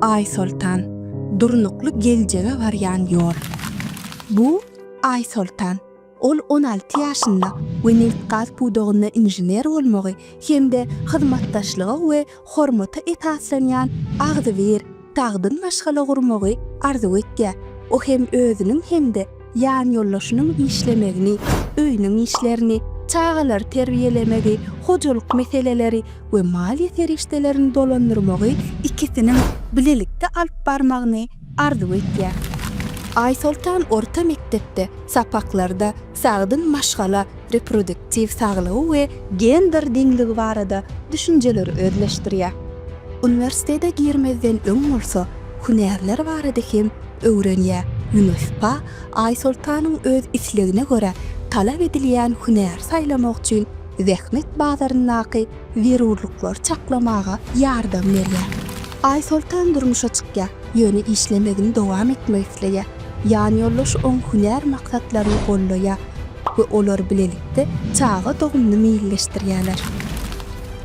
Aýsoltan, durnukly geljege barýan ýol. Bu, Aýsoltan. Ol on alty ýaşynda we nebit-gaz pudagynda inžener bolmagy hem-de hyzmatdaşlyga we hormata esaslanýan agzybir, sagdyn maşgala gurmagy arzuw etýär. O hem özüniň hem-de ýanýoldaşynyň işlemegini, öýüniň işlerini, çagalary terbiýelemegi, hojalyk meseleleri we maliýe serişdelerini dolandyrmagy ikisiniň bilelikde alyp barmagyny arzuw edýär. Aýsoltan orta mekdepde sapaklarda sagdyn maşgala, reproduktiw saglygy we gender deňligi barada düşünjeleri özleşdirýär. Uniwersitete girmezden öň bolsa hünärler barada hem öwrenýär. UNIFPA Aýsoltanyň öz islegine görä talap edilýän hünäri saýlamak üçin zähmet bazaryndaky zerurlyklary çaklamaga ýardam berýär. Aýsoltan durmuşa çykýar, ýöne işlemegini dowam etmek isleýär. Ýanýoldaşy oň hünär maksatlaryny goldaýar we olar bilelikde çaga dogumyny meýilleşdirýärler.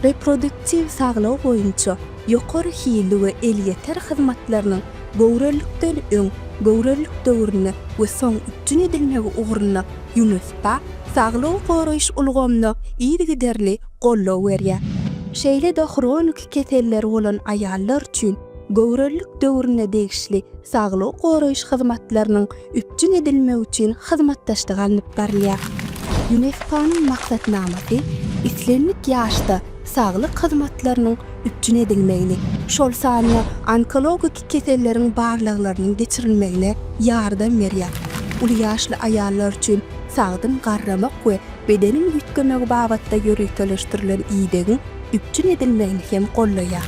Reproduktiw saglygy boýunça ýokary hilli we elýeter hyzmatlarynyň göwrelilikden öň, göwrelilik döwründe we soň üpjün edilmegi ugrunda, Ýunusda saglygy goraýyş ulgamyna yzygiderli goldaw berýär. Şeýle-de hroniki keselleri bolan aýallar üçin göwrelilik döwrüne degişli saglygy goraýyş hyzmatlarynyň üpjün edilmegi üçin hyzmatdaşlyk alnyp barylýar. Ýuneskonyň maksatnamasy islendik ýaşda saglyk hyzmatlarynyň üpjün edilmegini, şol sanda onkologik keselleriň barlaglarynyň geçirilmegine ýardam berýär, uly ýaşly aýallar üçin sagdyn garramak we bedeniň üýtgemegi babatda ýöriteleşdirilen idegiň üpjün edilmegini hem goldaýar.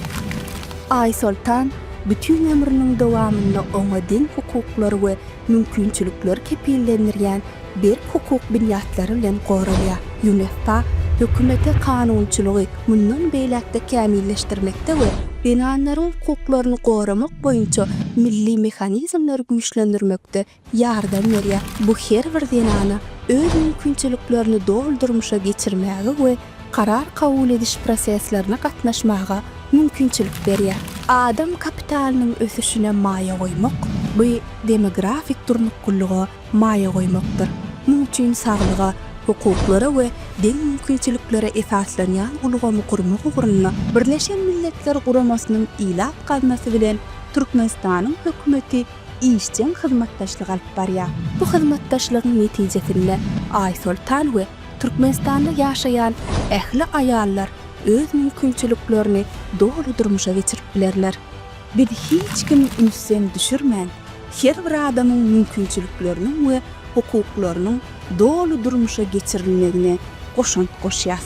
Aýsoltan bütin ömrüniň dowamynda oňa deň hukuklar we mümkinçilikler kepillendirýän berk hukuk binýatlary bilen goralýar. UNFPA hökümete kanunçylygy mundan beýläk-de kämilleşdirmekde we zenanlaryň hukuklaryny goramak boýunça milli mehanizmleri güýçlendirmekde ýardam berýär. Bu her bir zenana öz mümkinçiliklerini doly durmuşa geçirmäge we karar kabul ediş proseslerine gatnaşmaga mümkinçilik berýär. Adam kapitalynyň ösüşine maýa goýmak, bu demografik durnuklylyga, maýa goýmakdyr. Muň üçin saglyga, hukuklara we deň mümkinçiliklere esaslanýan ulgamy gurmak ugrunda Birleşen Milletler Guramasynyň Ilat gaznasy bilen Türkmenistanyň Hökümeti işjeň hyzmatdaşlyk alyp barýar. Bu hyzmatdaşlygyň netijesinde Aýsoltan we Türkmenistanda ýaşaýan ähli aýallar öz mümkinçiliklerini doly durmuşa geçirip bilerler. Biz hiç kim ünsden düşürmän, her bir adamyň mümkinçilikleriniň we hukuklarynyň doly durmuşa geçirilmegine goşant goşýas.